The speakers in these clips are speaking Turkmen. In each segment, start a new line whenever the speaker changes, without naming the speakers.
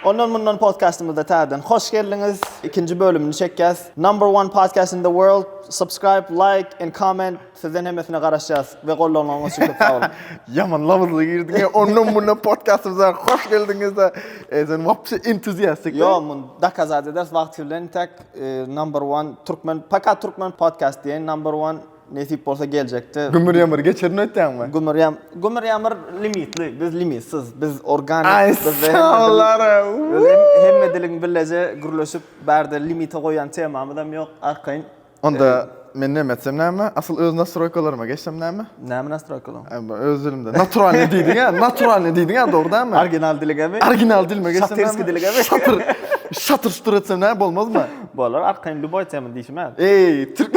Ondan mundan podcastymyza täzeden hoş geldiňiz. Ikinji bölümini çekýäs. Number one podcast in the world. Subscribe, like and comment. Sizden hemmesine garaşýas we gollanyňyz üçin köp sag boluň. Yaman lawuzly girdik. E, ondan mundan podcastymyza hoş geldiňiz de. E, sen wapşe entuziastik. Yo, mun dokazat eders wagt bilen tak e, number one türkmen, fakat türkmen podcast diýen number one Nesip bolsa geljekde. Gümür ýamyr geçirin öýtýäňmi? Gümür ýam gümür ýamyr limitli, biz limitsiz, biz organik. Aý sawallara uuu. Hemme diliň billeje gürleşip bärde limite goýan temamyzam ýok arkaýyn. Onda men näme etsem näme? Asyl öz nastroýkalaryma geçsem näme? Näme nastroýkalaň? Ebe öz dilimde naturalnyý diýdiňä, naturalnyý diýdiňä dogry dälmi? Original diligemi? Original dilime geçsem näme? Şatyrsky diligemi? Şatyr. Şatyr şutyr etsem näme bolmazmy? Bolar arkaýyn lýuboý tema diýşime. Eý, türk.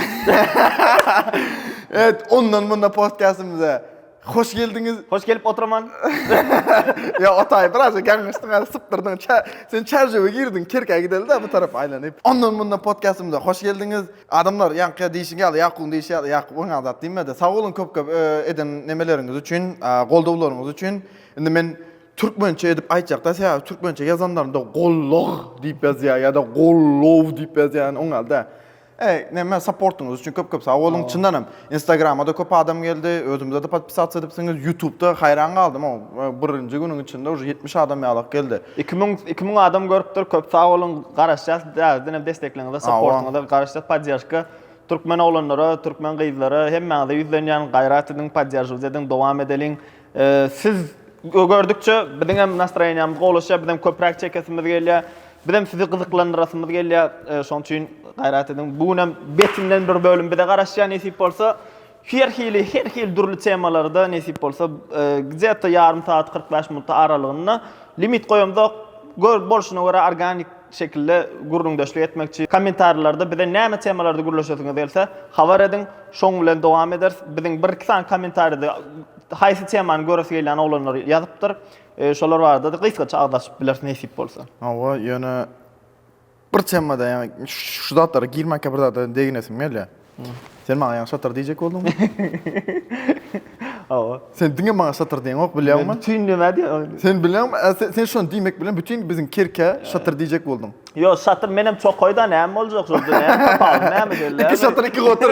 Evet, ondan munda podcastymyza hoş geldiňiz. Hoş gelip otyraman. Ya otay biraz gaňyşdyň hali sypdyrdyň. Ça- Sen çarjöwe girdiň, kerkä gideli de bu tarap aýlanyp. Ondan munda podcastymyza hoş geldiňiz. Adamlar ýaňky diýşiň ýaly, Ýakubyň diýşi ýaly, Ýakup oňa zat diýmedi. Sag boluň köp-köp e, eden nemeleriňiz üçin, a, goldawlaryňyz üçin. Indi men Türkmençe edip aýtjakda sebäbi türkmençe ýazanlarynda gollag diýip ýazýar ýa-da gollow diýip ýazýar oň ýaly däl. Eý, näme saportyňyz üçin köp-köp sag boluň. Çyndan hem Instagrama-da köp adam geldi, özümize-de podpisasiýa edipsiňiz, Ýutubda haýran galdym oň birinji günüň içinde uje ýetmiş adam ýalak geldi. Iki müň iki müň adam görüpdir, köp sag boluň, garaşýas täzeden hem dessekligiňize, saportyňyza garaşýas, podderžka türkmen oglanlara, türkmen gyzlara hemmäňize ýüzlenýän, gaýrat ediň, podderžiwt ediň, dowam edeliň. Siz gördükçe biziň hem nastroýeniýamyz gowlaşýar, biz hem köpräk çekesimiz gelýär. Biz hem sizi gyzyklandyrasymyz gelýär. E, şoň üçin gaýrat ediň. Bu gün hem betinden bir bölüm bize garaşýar nesip bolsa. Her hili, her hil dürli temalarda nesip bolsa, e, gzeta ýarym saat 45 minut aralygynda limit goýamzok. Gör bolşuna görä organik şekilde gürrüňdeşlik etmekçi. Kommentarlarda bize näme temalarda gürleşesiňiz gelse, habar ediň, şoň bilen dowam ederis. Biziň bir-iki sany kommentaride haýsy temany göresi gelýän oglanlar ýazypdyr. Şolar barada-da gysgaça agyz açyp bileris nesip bolsa. Hawa, ýöne bir temada, ýagny şu zatlara girmänkä bir zada deginesim gelýär. Sen maňa ýaňy şatyr diýjek bolduňmy? Hawa. Sen diňe maňa şatyr diýeňok, bilýäňmi? Bütin näme diýýän? Sen bilýäňmi? Ä, se- Sen şony diýmek bilen bütin biziň Kerkä şatyr diýjek bolduň. Ýo, şatyr men hem çokaý-da, näme boljak şonda? Näme tapawudy, näme gelýär? Iki şatyr, iki gotur.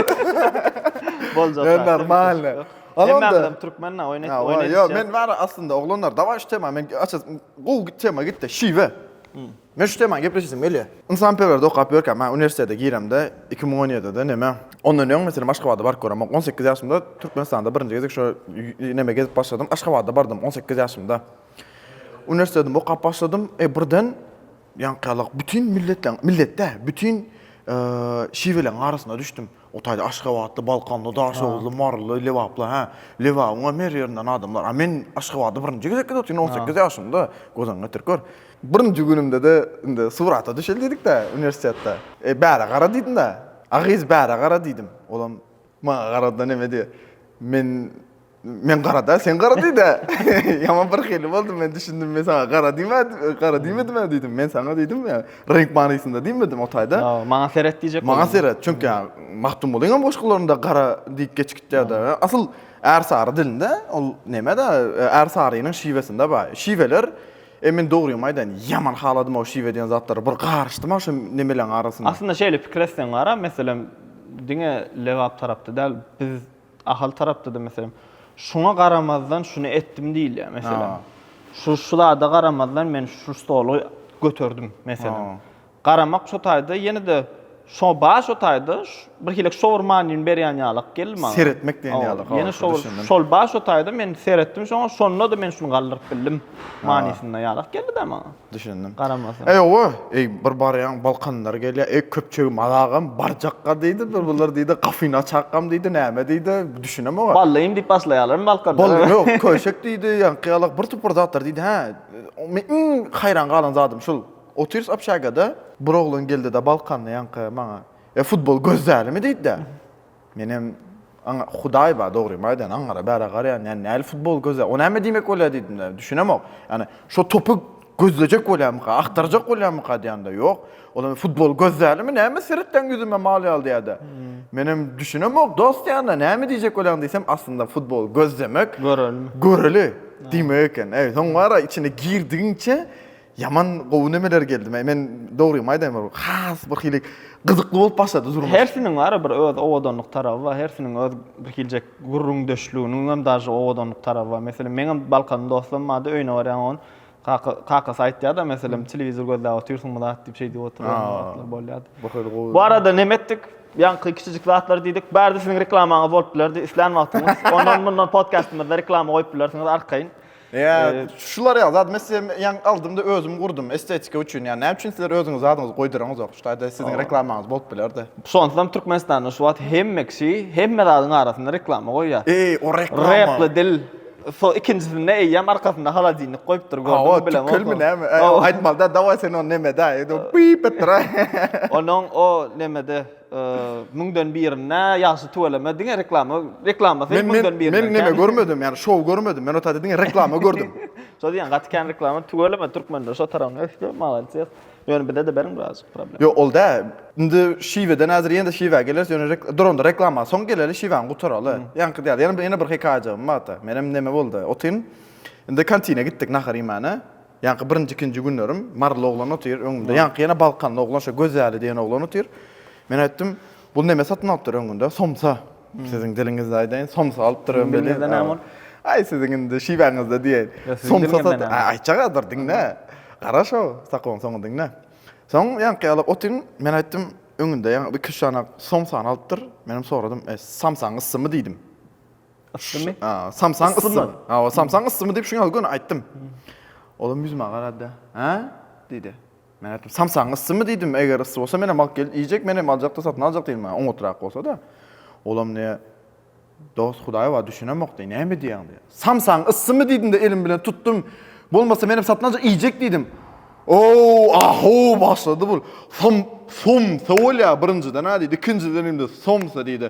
Boljak. Ýa, zaten. normalny. Al Hemme onda. adam türkmen-ä, oýun et, Hawa, oýun ýo, edişýär. men bari aslynda oglanlar, dawaý şu tema, men açasym, gowy tema gitdi, şiwe. Men şu temany gepleşesim gelýär. Ynsanperwerdi okap ýörkäm, ha, uniwersitete giremde, iki müň on ýedide näme, ondan öň, meselem, Aşgabada baryp göremok. On sekiz ýaşymda Türkmenistanda birinji gezek şo nämä gezip başladym, Aşgabada bardym, on sekiz ýaşymda. Uniwersitetimi okap başladym, e, birden ýaňky ýala bütin milletleriň, millet däl, bütin şiweleriň arasyna düşdüm. O taýda aşgabatly, balkanly, daşoguzly, maryly, lebaply, hä, Lebabyň hem her ýerinden adamlar. A men Aşgabada birinji gezek gidip otyryn, on sekiz ýaşymda. Gözaňy getirip gör. Birinji günümde-de indi surata düşeli diýdik-dä uniwersitetde. E, bärä gara diýdim-dä. A gyz bärä gara diýdim. Olam maňa garady-da neme diýýär, Men Men gara-da, sen gara diý-dä. Ýaman bir hili boldum, men düşündim, men saňa gara diýmä, gara diýmedim-ä diýdim. Men saňa diýdim ýa, reňk manysynda diýmedim, o taýda. Ýok, maňa seret diýjek boldum. Maňa seret, çünki Magtymgulyň hem goşgularynda gara diýip geçgitýär-de. Asyl Ärsary dilinde ol neme-de, Ärsarynyň şiwesinde bar. Şiweler, e, men dogrymy aýdaýyn, ýaman haladym o şiwe diýen zatlary, bir garyşdym-a şu nemeleň arasynda. Aslynda şeýle pikir etseň gara, meselem, diňe Lebap tarapda däl, biz, Ahal tarapda-da, meselem, şuňa garamazdan şuny etdim diýilýär, meselem. Şu, şu zada garamazdan men şu stoly göterdim, meselem. Garamak şo taýda ýene-de şo bar şo taýda birhili şowur manyny berýän ýalak geldi maňa. Seretmek diýen ýaly. Hawa, ýene şowur, şol bar şo taýda men seretdim şoňa, şonda-da men şuny galdyryp bildim manysynda ýalak geldi-dä maňa. Düşündim. Garamasa. Eý oba, eý bir barýaň balkanlar gelýär, eý köpçegi mazagam barjakga diýdi, bir bular diýdi gafyny açakkam diýdi, näme diýdi, düşünem oňa. Ballyym diýip başlaýarlarmy balkanlar? Bally ýok, köşek diýdi, ýaňky ýalak bir topar zatlar diýdi, hä. Men iň haýran galan zadym şul, otyrys obşagada, bir oglan geldi-de balkanly ýaňky maňa, E futbol göz dälimi diýdi-de. Menem aňa Hudaý bar dogrymy aýdan aňara bära garaýan ýa näli futbol göze o näme diýmek bolýa diýdimde düşünemok ýani şo topy gözlejek bolýamyka agtarjak bolýamyka diýanda ýok ol indi futbol gözlälimi näme seretýäň ýüzüme mal ýaly diýada menem düşünemok dost diýanda näme diýjek bolýaň diýsem aslynda futbol gözlemek görelimi göreli diýmek eken eý soň wara içine girdigiňçe Ýaman gowy nemeler geldi. Men men dogrymy aýdaýyn bir has bir hili gyzykly bolup başlady durmuş. Hersiniň bar bir öz owadanlyk taraby bar. Hersiniň öz bir hiljek gürrüňdeşliginiň hem dažy owadanlyk taraby bar. Meselem, meňem Balkan dostum bardy, öýüne barýan oň kaka kakasy aýtýarda meselem telewizor gözläp otyrsyňmy zat diýip şeý diýip oturýan wagtlary bolýardy. Bu hili gowy. Bu arada neme etdik? Ýaňky kiçijik zatlar diýdik. Bärde siziň reklamaňyz bolup bilerdi. Islän wagtyňyz ondan mundan podkastymyzda reklama goýup bilersiňiz arkaýyn. Ýa şular ýaly zat mes em ýaňy aldymda özüm gurdum estetika üçin ýa näme üçin sizler özüňiz zadyňyzy goýdaraňyzok şu taýda siziň reklamaňyz bolup bilerde. Şonsam Türkmenistanda şu wagt hemme kişi hemme zadyň arasynda reklama goýýa. Eý o reklama. Repli dil so ikinjisinde eýýäm arkasynda halodilnik goýupdyr gördüňmi bilemok. Hawa tükkelmi näme aýtmalyda dawaý sen ony nemede aý edip pip etdir aý. Onuň o nemede. Müňden birinde ýagşy tüweleme diňe reklama reklama sen müňden birinde. Men neme görmedim yani şow görmedim men otady diňe reklama gördüm. Şo diýen gaty kän reklama tüweleme türkmende şo tarawyny ösdi maladýes. Ýöne bize de beriň biraz problem. Ýok ol da indi şiweden hazır ýene şiwä geleris ýöne duranda reklama soň geleli şiwäni gutaraly. Ýaňky diýär ýene bir hekaýajygym barda. Menem neme boldy otyn indi kantine gitdik nahar iýmäne. Ýaňky birinji-ikinji günlerim maryly oglan otyr öňümde. Ýaňky ýene balkanly oglan şo Gözäli diýen oglan otyr. Men aýtdym, Bul neme satyn alypdyr öňünde? Somsa. Siziň diliňizde aýdaýyn, somsa alypdyr öň welin. Siziň diliňizde näme ol? Aý, siziň indi şiwäňizde diýeýin. Somsa sat. Aý, aýtjagadyr, diňle. Gara şo sakoň soňy diňle. Soň ýaňky ýaly otyn, men aýtdym, Öňünde ýaňky iki-üç sany somsany alypdyr. Menem soradym, E, samsaň yssymy diýdim. Issymy? Aa, samsaň yssymy? Aa, samsaň yssymy diýip şuňa gün aýtdym. Olam ýüzüme garady. Ha? diýdi. Men aýtdym, samsaň yssymy diýdim, eger yssy bolsa men hem alyp gelip iýjek, men hem aljakda satyn aljak diýdim, maňa oňatrak bolsa-da. Olam ne Dost Hudaý bar, düşünemok diý, näme diýýäň diý. Samsaň yssymy diýdim-de elim bilen tutdum. Bolmasa men hem satyn aljak, iýjek diýdim. Ow, ahow başlady bu. Som, som, sowulýa birinjiden ha diýdi. Ikinjiden indi somsa diýdi.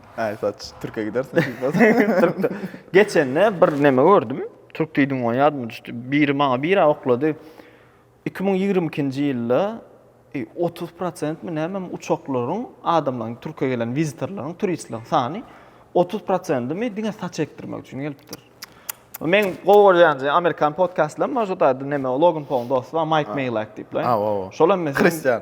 Aý saç türke gidersiň Türkde. Geçende bir neme gördüm. Türk diýdim goň ýadyma düşdi. Biri maňa bira oklady. 2022-nji ýylda 30 prosentmi nämemi uçaklaryň adamlaryň türke gelen wizitorlaryň turistleriň sany 30 prosentimi diňe saç ekdirmek üçin gelipdir. Men gowy görýän amerikan podkastlaryň bar şo taýda neme Logan Paul dosty bar Mike Maylak diýip. Şol hem kristian.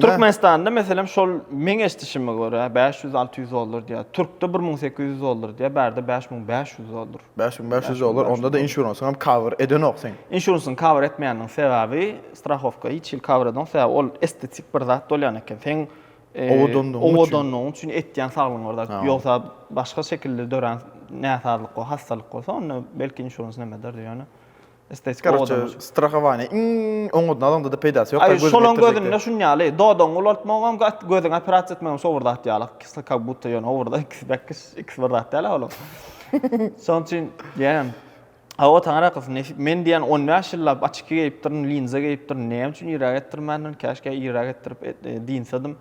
Türkmenistanda meselem şol meň eşdişime görä 500-600 dollar diýýär. Türkde 1800 dollar diýýär, bärde 5500 dollar. 5500 dollar, onda da insurance hem cover edenok sen. Insurance cover etmeýänligiň sebäbi strahowka hiç hil cover edenok, sebäbi ol estetik bir zat bolýan eken. Seň owadanlygyň üçin etýän saglygyň bir zat. Ýogsa başga şekilde dörän näsazlyk we hassalyk bolsa onda belki insurance näme ederdi ýöne. Estetika Korotje, owadan bolsun. strahovanie iň oňadyny alaňda-da peýdasy ýok. Aý, Gözüňi şolaň ýetdirjek gözünde diýip. şuny ýaly, dodagyňy ulaltmagam, gat- gözüňi operasiýa etmegem şo bir zat ýaly. Ikisi kak budda ýöne o bir zat, ikisi bäkis, ikisi bir zat däl-ä olaň. Şonuň üçin diýýän. Hawa, taňryýalkasyn, nesip. Men diýýän on bäş ýyllap oçki geýipdirin, linza geýipdirin, näme üçin irräk etdirmändirin, käşgä irräk etdirip et- e, dynsadym.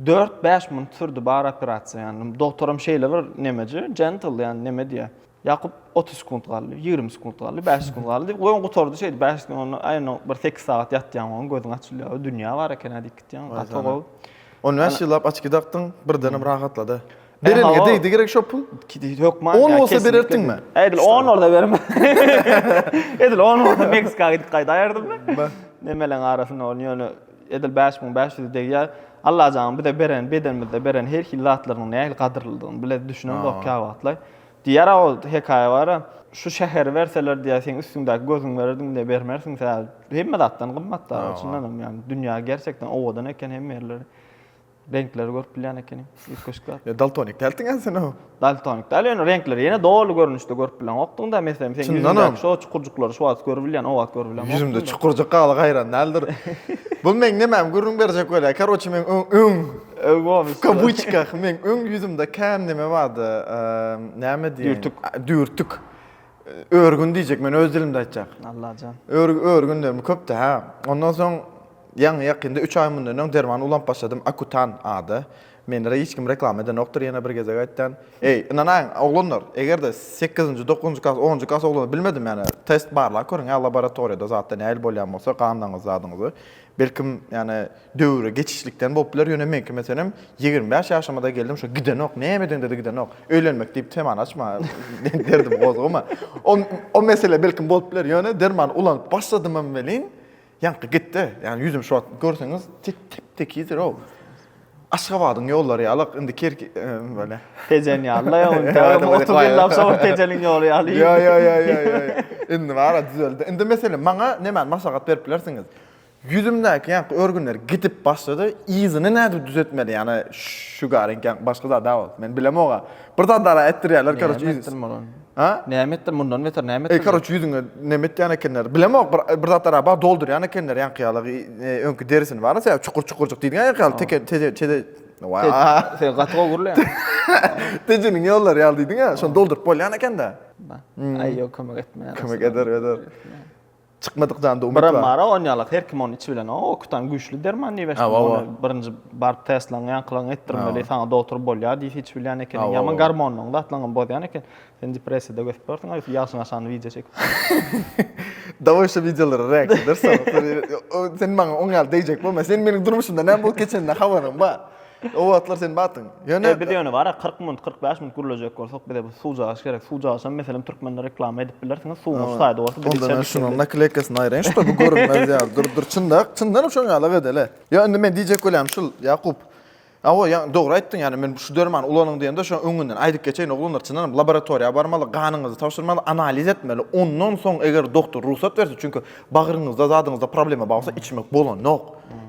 Dört-bäş minut sürdi bary operasiýa, ýagny dogtaram şeýle bir nemeje, gentle, ýagny neme diýýär, Ýakup otuz sekunt galdy, ýigrimi sekunt galdy, bäş sekunt galdy diýip, goýun gutardy şeýdip, bäş sekunt onda, aý onda bir sekiz sagat ýatýaň goýun, gözüň açylýar, dünýä bar eken-ä diýip gitýäň, gaty gowy. On bäş ýyllap açki dakdyň, birdenem rahatlady. Bereniňe degdi gerek şo pul? Hökman. On bolsa bererdiňmi? Edil on bolsa berim. Edil on bolsa Meksika gidip gaýdaýardym men. Nemeleň arasynda ol ýöne edil bäş müň bäş ýüz degýär. Allajanyň bize beren, bedenimizde beren her hili zatlarynyň nähili gadyrlydygyny bile düşünemzok käwagtlaý. Diýýär-ä ol hekaýa bar-a, Şu şäheri berseler diýýär, seň üstüňdäki gözüňi bererdim diýýär, bermersiň sen. Hemme zatdan gymmat dagy, çyndanam ýagny dünýä gerçekden owadan eken hemme ýerleri. Reňkleri görüp bilýän ekeniň, üýtgeşik zat. Ýa daltonik däldiň ýa sen o? Daltonik däl, ýöne reňkleri ýene doly görnüşde görüp bileňokdyň dagy, meselem seň ýüzüňdäki şo çukurjyklary şu wagt görübilýän, o wagt görübileňokdyň. Ýüzümde çukurjyk galy gaýran däldir. Bu meň nemämi gürrüň berjek bolýar, karoçe meň öň, Kabuçka, meň öň ýüzümde kän näme bardy, näme diýeýin? Dürtük. Dürtük. Örgün diýjek, men öz dilimde aýtjak. Allajan. Örgünlerim köpdi, hä. Ondan soň ýaňy-ýakynda üç aý mundan öň derman ulanyp başladym, Akutan ady. Meni hiç kim reklama edenokdyr, ýene bir gezek aýtýan. Eý, ynanaýyň, oglanlar, eger-de sekizinji, dokuzynjy klas, onunjy klas oglany bilmedim ýaly, test barlap görüň, hä, laboratoriýada zatda nähili bolýan bolsa, ganlaryňyzy, zadyňyzy. Belkim, ýagny, döwre geçişlikden bolup biler, ýöne meňki meselem, ýigrimi bäş ýaşyma-da geldim, şo gidenok, näme edeňde-de gidenok. Öýlenmek diýip temany açma, derdimi gozgama. O, o mesele belkim bolup biler, ýöne dermany ulanyp başladymam welin, ýaňky gitdi. Ýagny, ýüzüm şu wagt görseňiz, tip-tekizdir-ow. Aşgabadyň ýollary ýaly indi kerk bele. Tejen ýaly ýa indi. Otuz ýyllap soň Tejeniň ýoly ýaly. Ýa ýa ýa ýa ýa. Indi bara düzeldi. Indi meselem maňa nämäni maslahat berip bilersiňiz? Ýüzümdäki ýaňky örgünler gidip başlady. Yzyny nädip düzetmeli? Ýani şu garenk ýa başga zada bolup. Men bilemog-a. Bir zat ara etdirýärler, karoç. Näme etdirmeli ony? A? Näme etdir mundan beter näme etdir? Ey karoç ýüzüňe näme etýän ekenler? Bilemok bir bir zatlar aba doldurýan ekenler ýaňky ýaly e, öňki derisini bar ýa çukur çukurjyk diýdiň ýaňky ýaly teke teze teze Sen gaty gowy gürleýän. Tejiniň ýollary ýaly diýdiň ýa şony dolduryp bolýan ekende. Aý ýok kömek etmeýär. Kömek eder eder. Çykmadyk janda umyt bar. Biram bar on ýalak her kim ony içi bilen o okutan güýçli derman diýip eşitdim ony birinji baryp testlaň ýaňkylaň etdirmeli saňa dogtor bolýar diýip hiç bilýän ekeniň ýaman garmonyň zatlaňam bozýan eken sen depressiýada götüp ýörsiň aýsy ýagşyň aşagny wideo çekip daway şu wideolara reaksiýa edersoň sen maňa oň ýaly deýjek bolma sen meniň durmuşymda näme bolup geçenine habaryň bar. O wagtlar sen bardyň. Ýöne. Eý, biz ýöne bar-a, kyrk minut, kyrk bäş minut gürlejek bolsak, bize bu suwjagaç gerek. Suwjagaçam, meselem, türkmenler reklama edip bilersiňiz, suwuň şu taýda bolsa, biz içerdik diýip. Onda men şunuň nakleykasyny aýraýyn, şübhe bu görünmez ýaly. Dur, dur, çyndak, çyndanam şoň ýalyk edeli. Ýa, indi men diýjek bolýan şul, Ýakup. Hawa, ýa, dogry aýtdyň, ýagny men şu dermany ulanyň diýende, şoň öňünden aýdyp geçeýin, oglanlar, çyndanam laboratoriýa barmaly, ganyňyzy tabşyrmaly, analiz etmeli. Ondan soň, eger doktor rugsat berse, çünki Bagryňyzda zadyňyzda problema barsa içmek bolanok.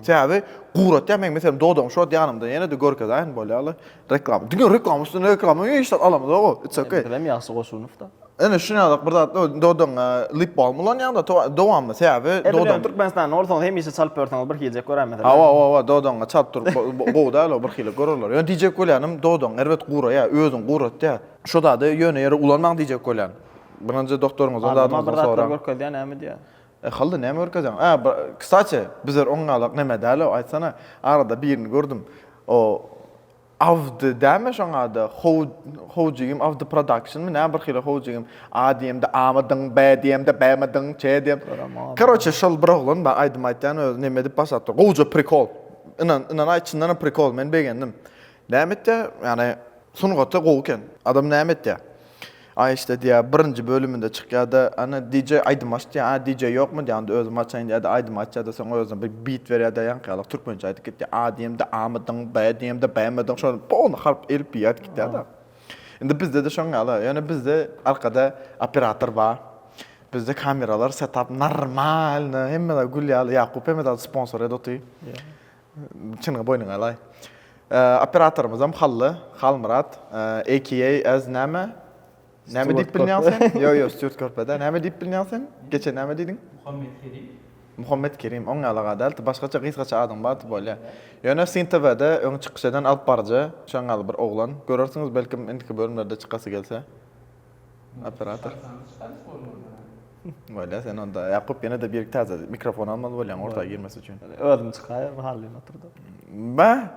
Sebäbi guratýar meň meselem dodagyň şu wagt ýanymda ýene-de görkezeýin bolýarly reklama. Diňe reklama üstüne reklama hiç zat alamyzok o. It's okay. Bilen ýagşy goşulypda. Ene şu ýadak bir zat dodagyňa lip balm ulanýaňda dowamly sebäbi dodagyň Türkmenistanda bolsaňyz hemişe çalyp ýörseňiz bir hiljek görer meselem. Hawa hawa hawa dodagyňa çalyp durup gowy däl o bir hili görerler. Ýöne diýjek bolýanym dodagyň erbet guraýar özüň guratýar. Şu zady ýöne ýere ulanmaň diýjek bolýan. Birinji doktoryňyzdan zadyňyzdan soraň. Allyma bir zatlar görkezýär näme diýýär. E Hally näme görkezýäň? A, kstati, bizler oňňalak neme däl-ow, aýtsana, arada birini gördüm. O Awdy dämi şoň ady? Howjigim Awdy Productionmy näme bir hili howjigim. A diýemde A-mydyň, B diýemde B-mydyň, C diýem. Karoçe, şol bir oglan bar, aýdym aýtýan özi neme edip başlapdyr. Gowja prikol. Ynan, ynanaý, çyndanam prikol, men begendim. Näme etýär? Ýagny sungaty gowy eken. Adam näme etýär? Aý işte diýýär, birinji bölüminde çykýar-da, Ana, DJ aýdym aç diýýär. A, DJ ýokmy diýýär, onda özüm açaýyn diýýär-de, aýdym açýar-da, soň özüne bir bit berýär-de, ýaňky ýaly türkmençe aýdyp gitýär. A diýemde amydyň, B diýemde bämydyň, şony pony harp elipbiý aýdyp gitýär-de. Indi bizde-de şoň ýaly, ýöne bizde arkada operator bar, bizde kameralar, setap normalny, hemme zat gül ýaly, Ýakup hemme zady sponsor edip otyr. Çynyňy boýnuňa alaý. Operatorymyzam Hally, Halmyrat, AKA as näme? Näme diýip bilnýäň sen? Ýok, ýok, Stýurt Körpede. Näme diýip bilnýäň sen? Geçen näme diýdiň? Muhammet Kerim. Muhammet Kerim, oň ýaly aga däl, başgaça gysgaça adyň bardy, bolýa. Ýöne Syn TW-de öň çykyş eden alypbaryjy, şoň ýaly bir oglan. Görersiňiz belkim indiki bölümlerde çykasy gelse. Operator. Bolýa sen onda. Ýakup ýene-de bir täze mikrofon almaly bolýaň orta girmesi üçin. Özüm çykaýa bir halyn oturda. Mä?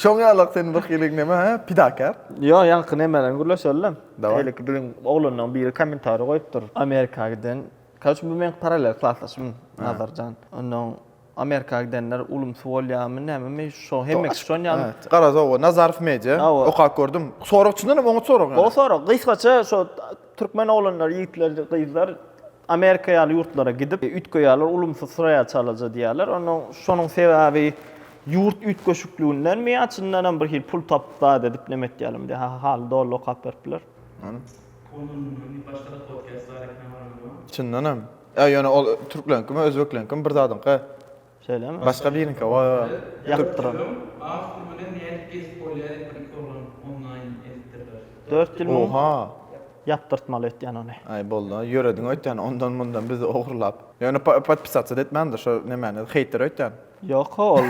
Şoň ýalak sen bir hilik näme ha? Pidakar. Ýok, ýaňky nemeleriň gürleşelem. Şeýleki biziň oglanlaryň biri kommentariýa goýupdyr. Amerika giden. Kaç bu meň paralel klasdaşym Nazarjan. Onnoň Amerika gidenler ulumsy bolýamy nämemi şo hemmekiş şonýamy. Garaz oba Nazarow media okap gördüm. Sorag çyndan hem oňat sorag ýa. Gowy sorag. Gysgaça şo türkmen oglanlar ýigitler gyzlar Amerika ýaly ýurtlara gidip üýtgeýärler ulumsy syraýa çalaja diýýärler. Onda şonuň sebäbi ýurt üýtgeşikligindenmi ýa çyndan hem bir hil pul tapyp zat edip neme etýärlermi diýýär. Hah haly doly okap beripler. Ony mundan başgada podkast bar ekeni habarym ýok. Çyndan hem. Ýa ýöne ol türkleňkimi özbekleriňkimi bir zadyňka. Şeýlemi? Başga biriňka o. Ýakyp duran. As pul bilen nädip gezip bolýar ekan iki oglan onlaýyn eltdirler. Dört ýyl muň ýapdyrtmaly etýän ony. Aý bolda ýörediň öýtýän ondan mundan bizi ogurlap. Ýöne podpisatsyda etmändir şo nemäni heýter öýtýän. Ýok o ol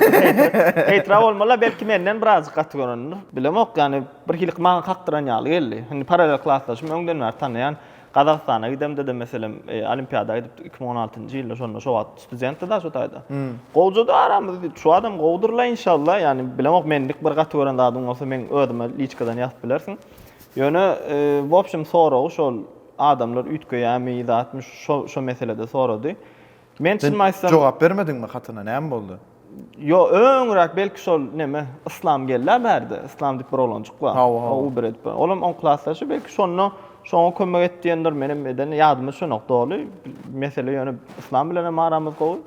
heýtra bolmala belki menden birazjyk gaty görendir. Bilemok ýani birhili maňa kakdyran ýaly geldi. Indi paralel klasdaşym öňden bäri tanaýan. Gazagystana gidemde-de meselem, olimpiada gidipdik iki müň on altynjy ýylda, şonda şo wagt studentdi daş o taýda. Gowjady aramyz, diýip, şu adam gowudyr-la inşalla, ýagny bilemok, menlik bir gaty gören zadyň bolsa meň özüme liçkadan ýazyp bilersiň. Ýöne, w opşem, soragy şol adamlar üýtgeýärmi, zatmy, şo şo meselede sorady. Men çyn aýtsam jogap bermediňmi hatyna näme boldy? Ýo öňräk belki şol neme Yslam geldi bärde Yslam diýip bir oglanjyk bar. O u bir edip. Olam on klasdaşy belki şonda şoňa kömek et diýendir menem edeni ýadyma düşenok doly. Mesele ýöne Yslam bilen hem aramyz gowy.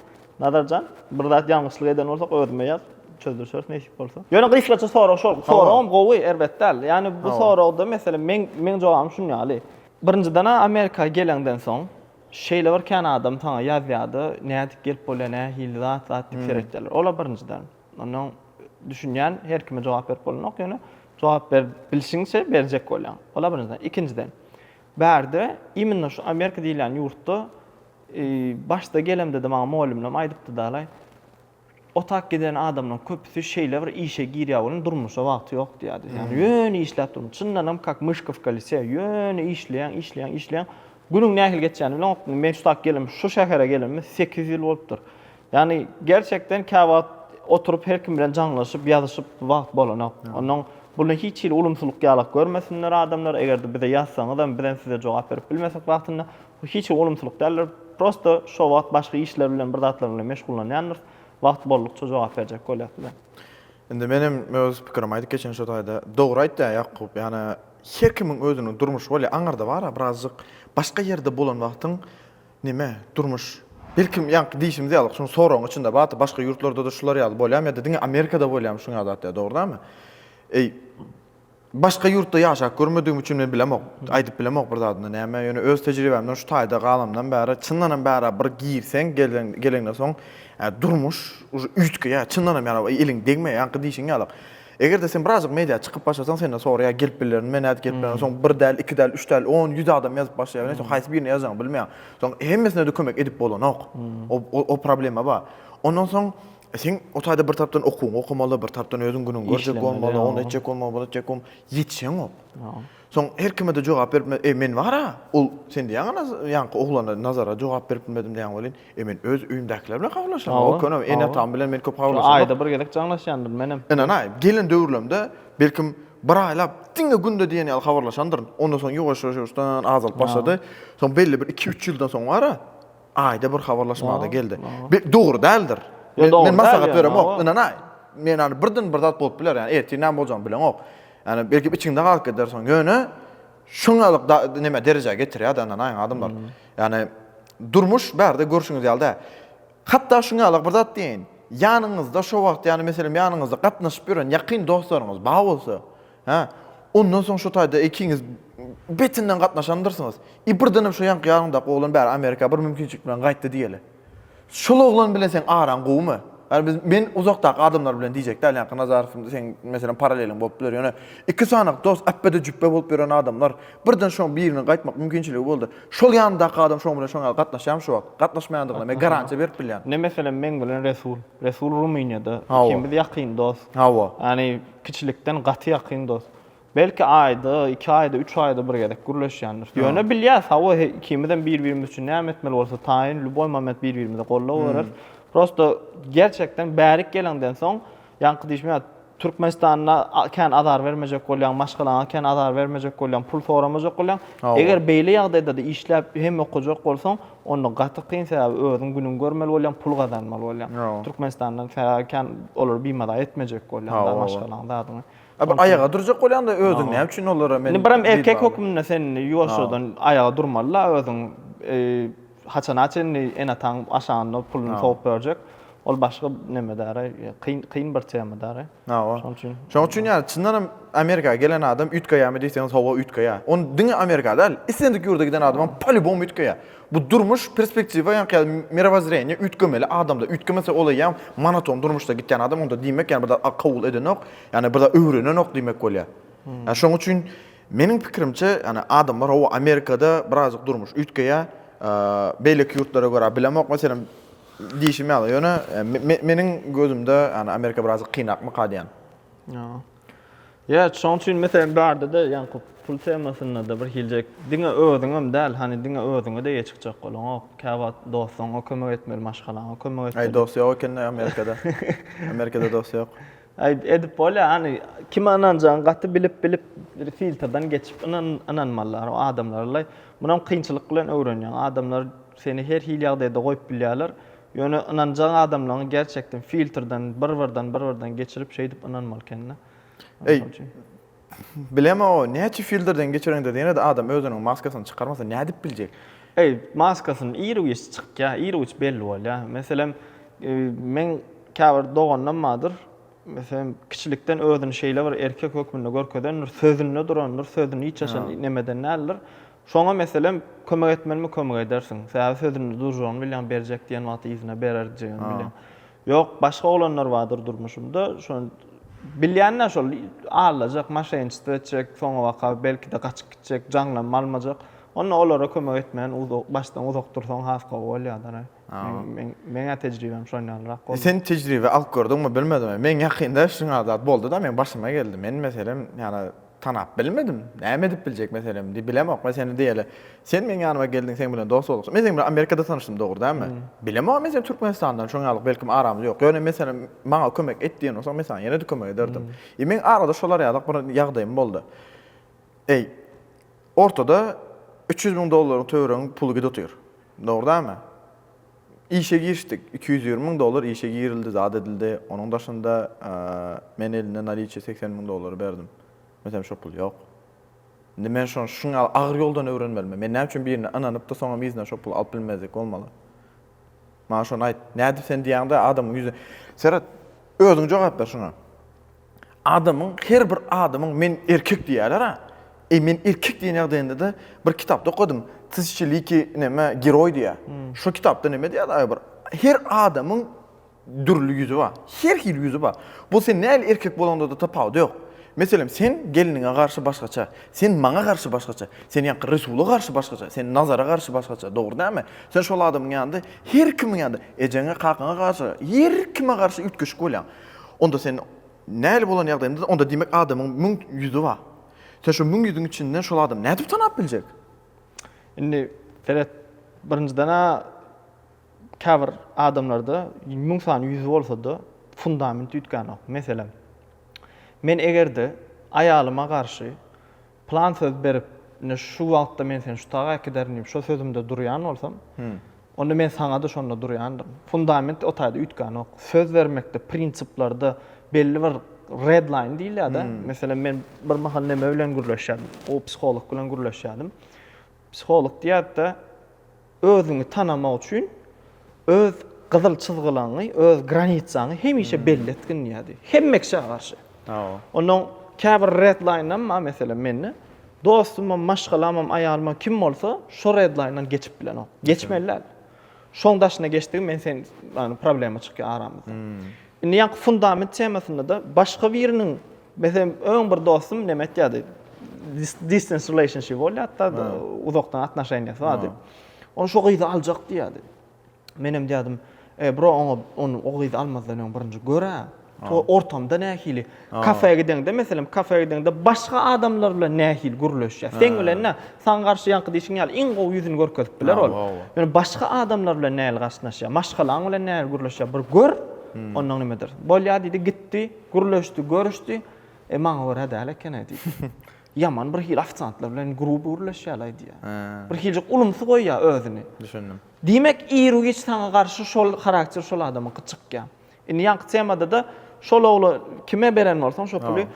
Nazarjan bir zat ýalňyşlyk eden bolsak özüme ýaz çözdürşeris nesip bolsa. Ýöne gysgaça sorag şol. Soragym gowy erbet däl. Ýani bu soragda mesele meň meň jogabym şun ýaly. Birinjiden-ä Amerika geleňden soň Şeýle bir kän adam saňa ýazýardy, nädip gelip bolýar, nähili zat, zat diýip seretýärler. Ola birinjiden. Ondan düşünýän her kime jogap berip bolanok, ýöne jogap berip bilşiňçe berjek bolýaň. Ola birinjiden. Ikinjiden. Bärde immino şu Amerika diýilýän ýurtda başda gelemde-de maňa mugallymlam aýdypdy dalaý. Otap giden adamlaň köpüsi şeýle bir işe girýä welin durmuşa wagty ýok diýýädi. Ýagny ýöne işläp durmuşy. Çyndanam kak myşkowka lise. Ýöne işleýäň, işleýäň, işleýäň. Günüň nähili geçýäni bileňok. Men şu tak gelenmi, şu şähere gelenmi sekiz ýyl bolupdyr. Ýagny gerçekden käwagt oturyp her kim bilen jaňlaşyp, ýazyşyp wagt bolanok. Onnoň bunda hiç hili ulumsylyk ýalak görmesinler adamlar. Eger-de bize ýazsaňyzam bizem size jogap berip bilmesek wagtynda. Bu hiç hili ulumsylyk däldir. Prosta şo wagt başga işler bilen bir zatlar bilen meşgullanýandyrys. Wagty boldukça jogap berjek bolýas bize. Indi men hem öz pikirimi aýdyp geçeýin şo taýda. Dogry aýtýa Ýakup, ýagny her kimiň özüniň durmuşy bolýa. Aňarda bara birazjyk başga ýerde bolan wagtyň neme durmuş belki ýaňky diýşimiz ýaly şuň soragyň içinde bardy başga ýurtlarda-da şular ýaly bolýamy ýa-da diňe Amerikada bolýamy şuň ýaly zat ýa dogry dämi? Eý Başga ýurtda ýaşap görmedigim üçin men bilemok, aýdyp bilemok bir zadyny näme, ýöne öz tejribämden şu taýda galamdan bäri çyndanam bärä bir girseň geleňden soň durmuş uje üýtgeýär çyndanam ýaly ýa eliň degmeýär ýaňky diýşiň ýalyk egerde sen birazjyk media çykyp başlasaň senden soraýar gelip bilermi nädip gelip bilermi soň bir däl iki däl üç däl on ýüz adam ýazyp başlaýar bilen soň haýsy birine ýazjagyňy bilmeýäň soň hemmesine-de kömek edip bolanok o problema bar ondan soň Sen o taýda bir tarapdan okuwyňy okamaly, bir tarapdan özüň günüňi görjek bolmaly, ony etjek bolmaly, bunu etjek bolmaly, ýetişeňok. Soň her kime-de jogap berip bilmez. E, men bar-a, ol sen diýýäň ana, ýaňky oglana, Nazara jogap berip bilmedim diýýäň welin, e, men öz öýümdäkiler bilen habarlaşýan, o köne ene-atam bilen men köp habarlaşan. Şol aýda bir gezek jaňlaşýandyryn menem. Ynanaý, gelen döwürlerimde, belkim, bir aýlap, diňe günde diýen ýaly habarlaşandyryn. Ondan soň ýuwaş-ýuwaş ýuwaşdan azalyp başlady. Soň belli bir iki-üç ýyldan soň bar-a, Aýda bir habarlaşmada geldi. Bir dogry däldir. Men maslahat beremok, ynanaý. Men ýa birden bir zat bolup biler, ýa ertir näme boljagyny bileňok. Ýa belki içiňde galyp gider soň. Ýöne şuňalyk da näme derejä getirýär da ynanaýyň adamlar. Ýani durmuş bärde görşüňiz ýaly däl. Hatda şuňalyk bir zat diýeýin. Ýanyňyzda şo wagt ýani meselem ýanyňyzda gatnaşyp ýören ýakyn dostlaryňyz bar bolsa, Hä, ondan soň şu taýda ikiňiz betinden gatnaşandyrsyňyz. I birdenem şu ýaňky ýadyňdaky oglan bäri Amerika bir mümkinçilik bilen gaýtdy diýeli. Şol oglan bilen seň araň gowumy? Ýa biz men uzakdaky adamlar bilen diýjek däl, ýaňky Nazarow seň meselem paraleliň bolup biler. Ýöne iki sany dost äpbede jübbe bolup ýören adamlar, birden şoň biriniň gaýtmak mümkinçiligi boldy. Şol ýanyndaky adam şoň bilen şoň ýaly gatnaşýarmy şu wagt? Gatnaşmaýandygyna men garantiýa berip bilýän. Ine meselem meň bilen Resul. Resul Rumyniýada, ikimiz ýakyn dost. Hawa. Ýani Kiçilikden gaty ýakyn dost. Belki aýda, iki aýda, üç aýda bir gezek gürleşýändiris. Ýöne bilýäs, hawa, ikimizem bir-birimiz üçin näme etmeli bolsa taýyn, lýuboý moment bir-birimize gollap berers. Prosto, gerçekden bärik geleňden soň, ýaňky diýşim ýaly, Türkmenistanda kän azar bermejek bolýaň, maşgalaňa kän azar bermejek bolýaň, pul soramajak bolýaň. Eger beýle ýagdaýda-da işläp, hem okajak bolsaň, Onda gaty kyn sebäbi özüň günüň görmeli bolýaň pul gazanmaly bolýaň. Türkmenistandan sebäbi kän olary bimaza etmejek bolýaň maşgalaň zadyňy. Bir aýaga durjak bolýaňda özüň näme üçin olara men. Indi bir hem erkek hökmünde sen ýuwaşjadan aýaga durmalyda özüň haçana çenli ene ataň aşagynda puluny sowup berjek ol başga neme däri kyn kyn bir tema däri. Hawa. Şoň üçin. Şoň üçin ýa çyndanam Amerika gelen adam üýtgeýärmi diýseňiz hawa üýtgeýär. Ony diňe Amerika däl, islendik ýurda giden adamam polýubom üýtgeýär. Bu durmuş perspektiwa ýa-da mirowozreniýe üýtgemeli adamda. Üýtgemese ol eýýäm monoton durmuşda gitýän adam onda diýmek ýa-da bir zat kabul edenok, ýa-da bir zat öwrenenok diýmek bolýar. Ýa şoň üçin meniň pikirimçe ýa-da adamlar hawa Amerikada birazjyk durmuş üýtgeýär. Beýleki ýurtlara görä bilemok meselem. Diýşim ýaly, ýöne meniň gözümde, ýagny Amerika birazajyk kynrakmyka diýýän. Ýa, şoň üçin meselem bardy-da, ýaňky pul temasynda-da birhiljek, diňe özüňem däl, hany diňe özüňe deýe çykjak bolaňok. Käwagt dostuňa kömek etmeli, maşgalaňa kömek etmeli. Aý, dost ýok eken-dä Amerikada. Amerikada dost ýok. Aý, edip bolýar, hany kime ynanjagyňy gaty bilip-bilip, bir filtrden geçip ynanmalylar o adamlara-laý. Munam kynçylyk bilen öwrenýäň. Adamlar. Seni her hili ýagdaýda goýup bilýärler. Ýöne ynanjaň adamlaňy gerçekden filtrden bir birden bir birden geçirip şeýdip ynanmaly kende. Eý Bilemok o näçe filtrden geçireňde ýenede adam özüniň maskasyny çykarmasa nädip biljek. Eý maskasyny ir giç çykýa ir giç belli bolýa. Meselem meň käbir doganlam bardyr. Meselem kiçilikden özüni şeýle bir erkek hökmünde görkezendir sözünde durandyr sözüni hiç haçan nemeden däldir. Şoňa, meselem, kömek etmelimi kömek edersiň. Sebäbi sözünde durjagyny bilýäň, berjek diýen wagty yzyna berer jigim, bilýäň. Ýok, başga oglanlar bardyr durmuşymda, şony bilýän-dä şol, aldajak, maşenniçestvo etjek, soňabaka, belki-de, gaçyp gitjek, jaňlarymy almajak. Onda olara kömek etmän, başdan uzak dursaň has gowy bolýar-da-aý. Meň, meň-ä tejribem şon ýalyrak boldy. Sen tejribe alyp gördüňmi, bilmedim-aý. Meň ýakynda şuňa zat boldy-da, meň başyma geldi. Men, meselem, ýana, Tanap bilmedim. Näme edip biljek meselem? Diýip, bilemok. Men seni diýeli. Sen meň ýanyma geldiň, seň bilen dost bolduk. Men seň bilen Amerikada tanyşdym, dogry dälmi? Bilemok, men seni Türkmenistandan şoň ýaly, belkem aramyz ýok. Ýöne meselem, maňa kömek et diýen bolsaň, men saňa ýene-de kömek ederdim. I meň arada şolar ýalyk bir ýagdaýym boldy. Eý, ortada üç ýüz müň dollaryň töwereginiň puly gidip otyr. Dogry dälmi? Işe girişdik. Iki ýüz ýigrimi müň dollar işe girildi, zat edildi. Onuň daşynda men elinde naliçe segsen müň dollary berdim. Meselem, şo pul ýok. Indi men şony şuň ýaly agyr ýoldan öwrenmelimi? Men näme üçin birine ynanyp-da, soňam yzyna şo puly alyp bilmezlik bolmaly? Maňa şony aýt. Nädip sen diýýäň-de, adamyň ýüzüne seret, özüň jogap ber şuňa. Adamyň her bir adamyň men erkek diýýärler-ä. Eý men erkek diýen ýagdaýynda-da bir kitapda okadym. Tyzçiliki näme geroý diýýär. Şo kitapda näme diýýärdi aýbir. Her adamyň dürli ýüzi bar. Her hili ýüzi bar. Bu sen nähili erkek bolaňda-da tapawudy ýok. Meselem sen gelniňe garşy başgaça. Sen maňa garşy başgaça. Sen ýaňky Resula garşy başgaça. Sen Nazara garşy başgaça. Dogry dälmi? Sen şol adamyň ýanynda her kimiň ýanynda ejeňe kakaňa garşy her kime garşy üýtgeşik bolýaň. Onda sen näli bolan ýagdaýynda, onda diýmek adamyň müň ýüzi bar. Sen şu müň ýüzüň içinden şol adamy nädip tanap biljek? Indi seret, birinjiden-ä käbir adamlarda müň sany ýüzi bolsa-da, fundament üýtgänok. Meselem, men eger-de aýalyma garşy Plan söz berip, ine şu wagtda men seni şu taga äkiderin diýip şo sözümde durýan bolsam, onda men saňa-da şonda durýandyryn. Fundament o taýda üýtgänok. Söz bermekde, prinsiplerde belli bir red line diýilýär-de. Meselem, men birmahal neme bilen gürleşýärdim, o psiholog bilen gürleşýärdim. Psiholog diýýärdi-de, özüňi tanamak üçin öz gyzyl çyzgylaňňy, öz granitsaňy hemişe belli etgin diýýärdi. Hemme kişä garşy. Onnoň käbir redlaýnam bar meselem mende. Dostumam, maşgalamam, aýalymam kim bolsa şo redlaýndan geçip bilenok. Geçmeli däl. Şoň daşyna geçdigiň men sen problema çykýar aramyzda. Indi ýaňky fundament temasynda-da başga biriniň, meselem, öň bir dostum näme aýtýardy, distance relationship bolýardy-da, uzakdan atnoşeniýasy bardy. Ol şo gyzy aljak diýýärdi. Menem diýýärdim, E, bro, oňa ony, o gyzy almazdan öň birinji gör-ä, ortamda nähili. Kafä gideňde, meselem, kafä gideňde başga adamlar bilen nähili gürleşýär? Seň bilen nä? Saňa garşy ýaňky diýşiň ýaly iň gowy ýüzüni görkezip biler ol. Ýöne başga adamlar bilen nähili gatnaşýar? Maşgalaň bilen nähili gürleşýär? Bir gör, onnoň nimedir. Bolýar diýdi, gitdi, gürleşdi, görüşdi. E, maňa görä däl eken-ä diýdi. Ýaman bir hili ofisiantlar bilen gruby gürleşýär-laý diýýär. Bir hiljik ulumsy goýýar özüni. Düşündim. Diýmek, ir-u-giç saňa garşy şol harakter şol adamyňky çykýar. Indi ýaňky temadada şol ogla kime beren bolsaň şo puly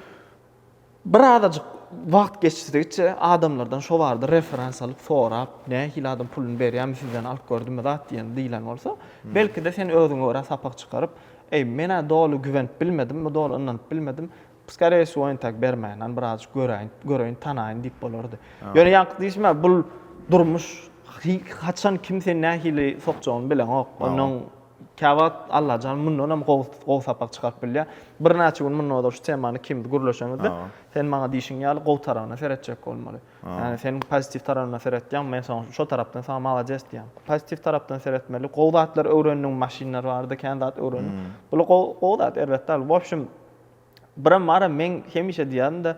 bir azajyk wagt geçdigiçe adamlardan şo barada referans alyp sorap, nähili adam puluny berýärmi sizden alyp gördünmi zat diýen diýilen bolsa, belkide sen özüňe görä sapak çykaryp, eý menä doly güwenip bilmedim, bu doly ynanyp bilmedim, skareýe wsýo entäk bermäýen, bir azajyk göräýin, göreýin, tanaýyn diýip bolardy. Ýöne ýaňky diýşime bul durmuş, haçan kim seni nähili sokjagyny bileňok, onuň Käwagt Allajan mundanam gowy sapak çykaryp bilýär. Birnäçe gün mundan ozal şu temany ikimiz gürleşeňizde, sen maňa diýşiň ýaly gowy tarabyna seretjek bolmaly. Ýagny sen pozitiw tarabyndan seretýäň, men soň şo tarapdan saňa malades diýýän. Pozitiw tarapdan seretmeli. Gowy zatlar öwrendiň, maşynlar barada kän zat öwrendiň. Bular gowy zat, erbet däl. Wobşem, Biram bara meň hemişe diýýändä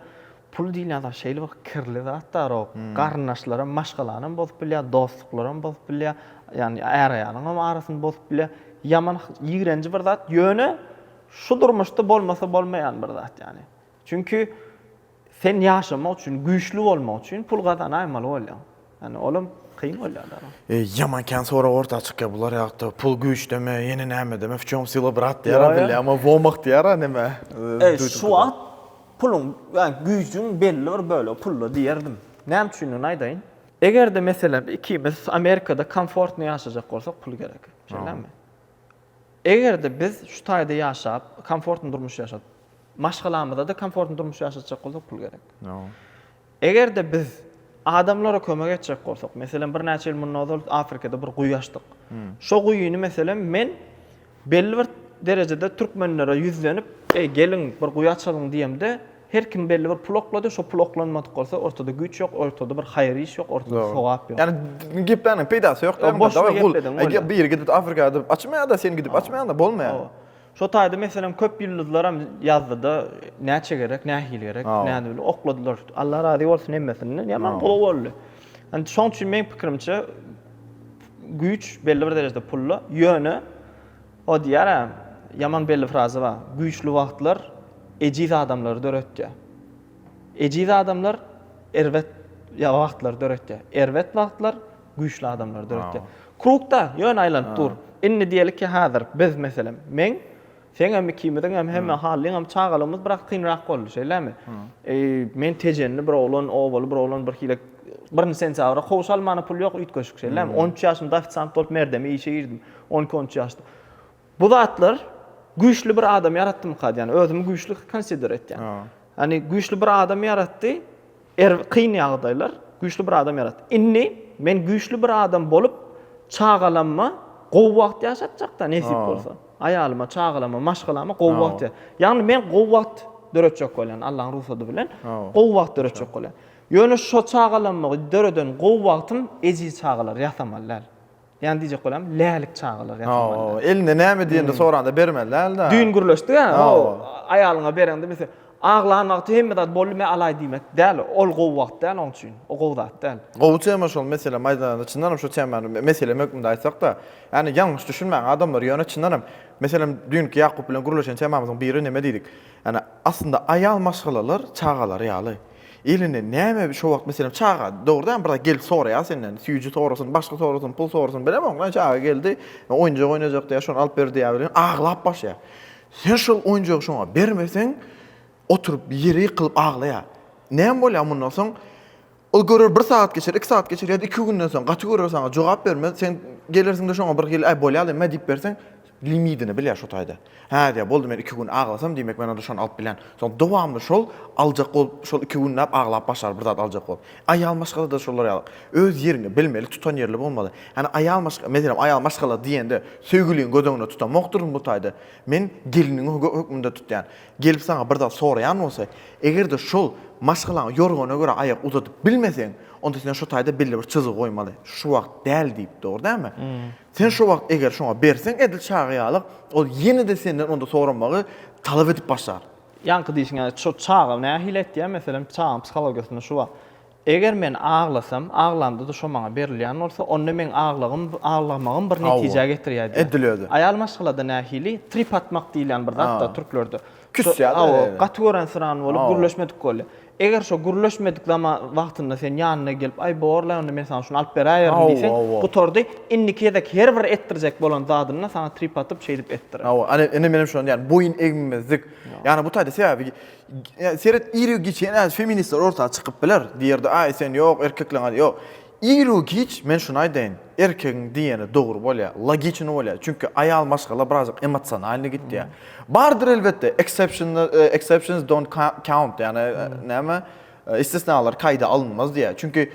pul diýilýän zat şeýle bir kirli zat darok. Garyndaşlaram maşgalanam bozup bilýär, dostluklaram bozup bilýär, ýagny är-aýalyňam arasyny bozup bilýär. Ýaman ýigrenji bir zat, ýöne şu durmuşda bolmasa bolmaýan bir zat ýagny. Çünki Sen ýaşamak üçin, güýçli bolmak üçin pul gazanaýmaly bolýaň. Ýani olam kyn bolýar da. Ýaman kän sorag orta çykýar bular ýagtda pul güýçdeme ýene nämedeme w çom syla brat diýýara bilýä emma w omak diýýara neme duýdum şu wagt puluň ýani güýjüň belli bir bölegi pulda diýerdim näme üçindigini aýdaýyn egerde meselem ikimiz amerikada komfortny ýaşajak bolsak pul gerek şeýlemi egerde biz şu taýda ýaşap komfortny durmuş ýaşap maşgalamyzda-da komfortny durmuş ýaşatjak bolsak pul gerek. Eger-de biz adamlara kömek etjek bolsak, meselem, birnäçe ýyl mundan ozal Afrikada bir guýy açdyk. Hmm. Şo guýyny meselem men belli bir derejede türkmenlere ýüzlenip, "Eý, geliň, bir guýy açalyň" diýemde, her kim belli bir pul oklady, şo pul oklanmadyk bolsa, ortada güýç ýok, ortada bir haýyr iş ýok, ortada sogap ýok. Ýani gepläniň peýdasy ýok. Boş gepläniň. Eger biri gidip Afrikada açmaýar-da, sen gidip açmaýaň-da, bolmaýar. Şo taýda meselem köp ýyldyzlaram ýazdyda näçe gerek nähili gerek nädip bilen okladylar. Allah razy bolsun hemmesinden ýaman gowy boldy. Indi şoň üçin meň pikirimçe güýç belli bir derejede pulda ýöne o diýýärä ýaman belli fraza bar güýçli wagtlar ejiz adamlary döretýär. Ejiz adamlar erbet wagtlary döretýär. Erbet wagtlar güýçli adamlar döretýär. Krugda ýöne aýlanyp dur. Indi diýeli ki hazir biz meselem meň seňem ikimiziň hem hemme Hallyň hem çagalygymyz biraz kynrak boldy şeýlemi? Men tejenli bir oglan obaly bir oglan bir hile birinji sentýabra kowşa almana pul ýok üýtgeşik şeýlemi? On üç ýaşymda ofisant bolup merdeme işe girdim. On iki on üç ýaşda. Bu zatlar güýçli bir adam ýaratdymyka diýýän. Özümi güýçli konsider etýän. Ýani güýçli bir adam ýaratdy. Er kyn ýagdaýlar güýçli bir adam ýaratdy. Indi men güýçli bir adam bolup çagalamma gowy wagt ýaşatjakda nesip bolsa. Aýalyma, çagalarma, maşgalama gowy wagt. Ýani men gowy wagt döretjek bolýan Allaň rugsady bilen. Gowy wagt döretjek bolýan. Ýöne şo çagalamma döreden gowy wagtym ejiz çagalar ýasamaly däl. Ýani diýjek bolam, lälik çagalar ýasamalydar. Hawa, eline näme diýende soranda bermeli dälda. Düýn gürleşdik a, hawa, aýalyňa bereňde bilse, aglan wagty hemme zat boldy men alaý diýmek däl, ol gowy wagt däl oň üçin, o gowy zat däl. Gowy tema şol meselem aýdylanda çyndanam şu temany meselem hökmünde aýtsakda, ýani ýalňyş düşünmäň adamlar ýöne çyndanam meselem düýnki Ýakup bilen gürleşen temamyzyň biri neme diýdik, ýani aslynda aýal maşgalalar çagalary ýaly. Elini näme şo wagt meselem çaga dogry däl bir zat gelip soraýar senden süýji sorasyn başga sorasyn pul sorasyn bilemok näme çaga geldi oýunjak oýnajak diýýär şony alyp ber diýýär bilen aglap başlaýar sen şol oýunjagy şoňa bermeseň oturyp ýere ýykylyp aglaýar näme bolýar mundan soň ol görer bir sagat geçer iki sagat geçer ýa-da iki günden soň gaty görer saňa jogap bermez sen gelersiňde şoňa bir hili äý bolýar lemä diýip berseň Limidini bil ýa şu taýda. Hä diýýär, boldy men iki gün aglasam diýmek men onda şony alyp bilän. Soň dowamly şol aljak bolup şol iki günläp aglap başlar bir zat aljak bolup. Aýal maşgalada şolar ýaly. Öz ýeriňi bilmeli tutan ýerli bolmaly. Hany aýal maşgala meselem aýal maşgala diýende söýgüliňi göz öňünde tutamokdyryn bu taýda. Men geliniňi hökmünde tutýan. Gelip saňa bir zat soraýan bolsa egerde şol maşgalaňy ýorgana görä aýak uzadyp bilmeseň onda sen şu taýda belli bir çyzgy goýmaly. Şu wagt däl diýip dogry dälmi? Sen şo wagt eger şoňa berseň edil çaga ýalyk, ol ýene-de senden onda soramagy talap edip başlar. Ýaňky diýşiň ýaly, şo çaga nähili etýär, meselem, çagaň psihologiýasynda şu bar. Eger men aglasam, aglamda-da şo maňa berilýän bolsa, onda meň aglagym, aglamagym bir netijä getirýär diýýär. Edil özi. Aýal maşgalada nähili? Trip atmak diýilýän bir zat bar türklerde. Küsýär-de. Hawa, gaty görensyrany bolup, gürleşmedik bolýar. Eger şo gürleşmedik zama wagtynda sen ýanyna gelip, Aý, bor-laý, onda men saňa şuny alyp beräýerin diýseň, gutardy. Indiki gezek her bir etdirjek bolan zadyny-da saňa trip atyp, şeýdip etdirer. Hawa, ane, indi menem şony diýýän, boýun egmemezlik. Ýagny bu taýda, sebäbi, seret, iri-giçi, ene, feministler orta çykyp biler, diýer-de, Aý, sen, ýok, erkekleň, ýok. Iru-giç men şuny aýdaýyn, erkegiň diýýeni dogry bolýar, logiçny bolýar, çünki aýal maşgala birazjyk emosionalnyý gitýär. Bardyr elbetde, exceptional, exceptions don't count, ýagny näme, istisnalar kaýda alynmaz diýýär. Çünki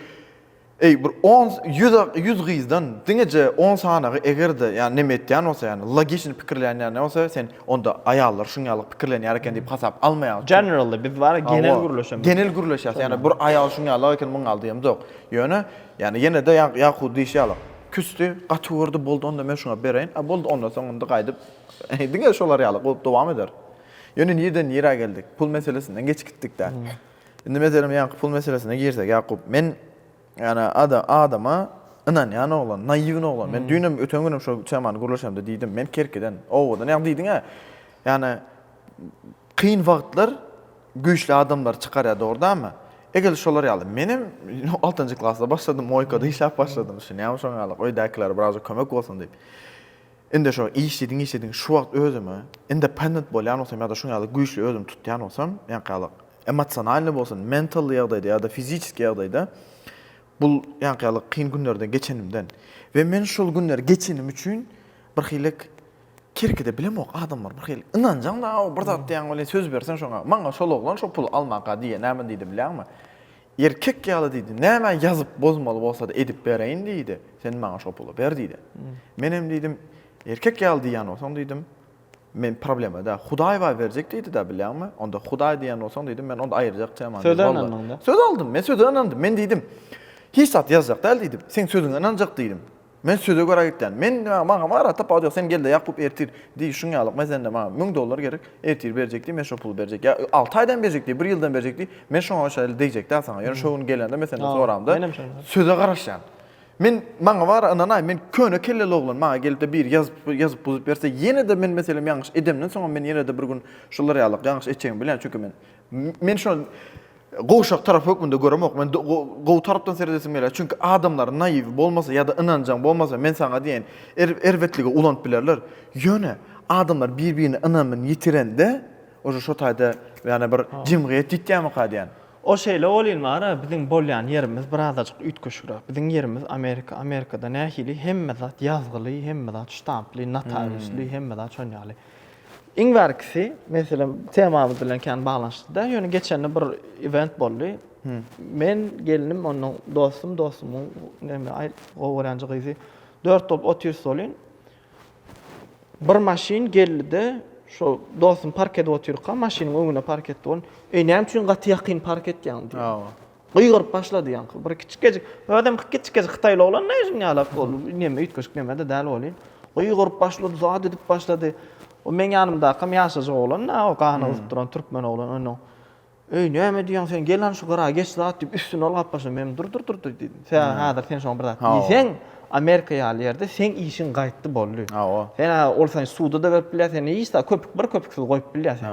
eý bir on, ýüz, ýüz gyzdan diňeje on sanagy eger-de ýagny neme etýän bolsa ýagny logiçny pikirleýän ýagny bolsa sen Onda aýallar şuň ýaly pikirlenýär eken diýip hasap almaýarys. Generally biz bara genel gürleşemiz. Genel gürleşýäs. Ýani bir aýal şuň ýaly eken muň ýaly diýemz ýok. Ýöne ýani ýene de ýakup diýşi ýaly küsdi, gaty gördi boldy onda men şuňa bereýin. A boldy onda soň indi gaýdyp diňe şolar ýaly goýup dowam eder. Ýöne nireden nirä geldik? Pul meselesinden geçip gitdik dä. Indi meselem ýaňky pul meselesine girsek ýakup men Ýani ada adama ynanýan oglan, naýwny oglan. Men düýnem öten günem şo temany gürleşemde diýdim. Men kerkiden, owadan ýagny diýdiňä. Ýani kyn wagtlar güýçli adamlary çykarýar dogurdamy? Egil şolar ýaly menem altynjy klasda başladym, moýkada işläp başladym düşünýäňmi şoňa ýaly öýdäkilere biraz kömek bolsun diýip. Indi şo işlediň-işlediň şu wagt özümi independent bolýan bolsam ýa-da şuň ýaly güýçli özümi tutýan bolsam, ýaňky-ýalyk emosionalnyý bolsun, mentalnyý ýagdaýda ýa-da fiziçeskiý ýagdaýda bul ýaňky-ýalyk kyn günlerden geçenimden we men şol günleri geçenim üçin birhilek kerkide bilemok adamlar birhili ynanjaň da-ow bir zat diýýäň welin söz berseň şoňa maňa şol oglan şo puly almaka diýýä näme diýdi bilýäňmi? Erkek ýaly diýdi, nämä ýazyp bozmaly bolsa-da edip bereýin diýdi, sen maňa şo puly ber diýdi. Menem diýdim, erkek ýaly diýýän bolsaň diýdim, men problema däl, Hudaý bar berjek diýdi-de bilýäňmi, onda Hudaý diýýän bolsaň diýdim, men onda aýyrjak teman däl. Söze ynandyň-da. Söz aldym, men söze ynandym, men diýdim, hiç zat ýazjak däl diýdim, seň sözüňe ynanjak diýdim. Men söze görä gitýän. Men diňe maňa Marat tapawut ýok, sen gel-de Ýakup ertir diý, şuň ýaly lukma sende maňa müň dollar gerek, ertir berjek diý, men şo puly berjek. Ýa alty aýdan berjek diý, bir ýyldan berjek diý, men şoňa şeýle degjek-dä saňa. Ýöne şo gün gelende men senden soramda, söze garaşýan. Men maňa bara ynanaý, men köne kelleli oglan, maňa gelip-de biri ýazyp, ýazyp-buzup berse, ýene-de men meselem ýalňyş edemden soňam men ýene-de bir gün şular ýaly ýalňyş etjegimi bilýän, çünki men, men şo Gowşak tarap hökmünde göremok. Men gowy tarapdan seredesim gelýär. Çünki adamlar naýiw bolmasa ýa-da ynanjaň bolmasa, men saňa diýen er, erbetligi ulanyp bilerler. Ýöne adamlar bir-birine ynamyny ýitirende, uje şo taýda ýane bir jemgyýet ýitýärmika diýän. O şeýle welin bar-a, biziň bolýan ýerimiz birazajyk üýtgeşigräk. Biziň ýerimiz Amerika. Amerikada nähili? Hemme zat ýazgyly, hemme zat ştamply, notariusly, hemme zat şon ýaly. Iň bärkisi, meselem, temamyz bilen kän baglanyşykly däl, ýöne geçende bir event boldy. Men, gelnim, onuň dostum, dostumyň näme aýt, gowy görýän gyzy. Dört bolup otyrys welin, bir maşyn geldi-de, şo dostum park edip otyrka, maşynyň öňüne park etdi. Ol, Eý, näme üçin gaty ýakyn park etýäň? diýdi. Gygyryp başlady ýaňky bir kiçikejik, özem kiçikejik hytaýly oglan näme şunuň ýaly ol neme üýtgeşik neme-de däl welin, gygyryp başlady, zat edip başlady. O meň ýanymdakam ýaşajyk oglan-da, o gany gyzyp duran türkmen oglan onnoň, Eý, näme diýýäň sen, gel hany şu gyra geç zat diýip, üstüne ol gap başlady. Men, Dur, dur, dur, dur diýdim. Sebäbi häzir sen şoňa bir zat diýseň, Amerika ýaly ýerde seň işiň gaýtdy, boldy. Sen häzir ol seni suda-da berip bilýär, seni hiç zat, köpük, bir köpüksiz goýup bilýär seni.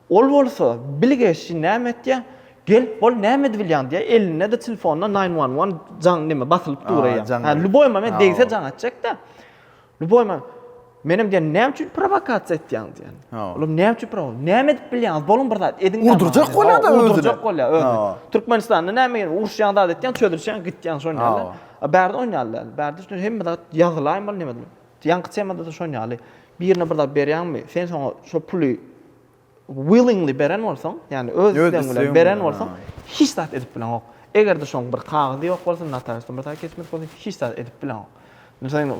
Ol bolsa, Bilgeşçi näme etýäň? Gelip bol, näme edibilýäň? diýýär. Elinde-de telefonda nine one one jaň neme basylyp dur eýýäm. Hä, lüboýma men degse jaň etjek-dä. Lüboýma, Menem diýýän, näme üçin prowokasiýa etýäň diýýän. Olam näme üçin prowokasiýa? Näme edip bilýäňiz? Boluň bir zat ediň-dä. Urdurjak bolýar-da özüni. Urdurjak bolýar özüni. Türkmenistanda näme gerek? Uruşýaň, zat etýäň, çözülişýäň, gitýäň şonýa-da. A bärde oýnaýarlar. Bärde şonda hemme zat ýazylaýmaly, neme edilmeli. Ýaňky temada-da şon ýaly, birine bir zat berýäňmi, sen şoňa şo puly willingly beren bolsaň, ýagny öz islegiň bilen beren bolsaň, hiç zat edip bileňok. Eger-de şoň bir kagyzy ýok bolsa, notariusdan bir zat geçmedik bolsa, hiç zat edip bileňok. Sen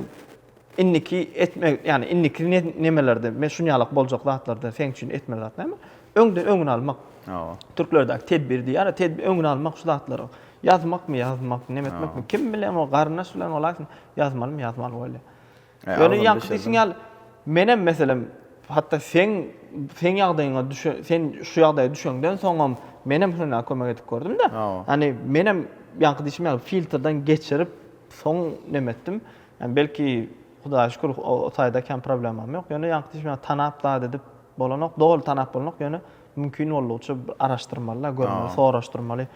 indiki etme, ýagny indiki nemelerde, men şun ýalak boljak zatlarda seň üçin etmeli zat näme? Öňden öňüni almak. Hawa. Türklerdäki tedbir diýýär, tedbir öňüni almak şu zatlaryň. Ýazmakmy, ýazmakmy, neme etmekmi, kim bilen o garyndaş bilen bolaýsyn, Ýazmalym, ýazmaly bolýa. Ýöne ýaňky diýşiň ýaly, menem meselem, hatda seň seň ýagdaýyňa düşe, sen şu ýagdaýa düşeňden soňam menem Hüna kömek edip gördüm-de. Ýani menem ýaňky diýşim ýaly filtrden geçirip soň näme etdim. Ýani belki Hudaýa şükür o taýda kän problemam ýok. Ýöne ýaňky diýşim ýaly tanap zat edip bolanok. Doly tanap bolanok, ýöne mümkin boldugyça araşdyrmaly-da, görmeli, soraşdyrmaly.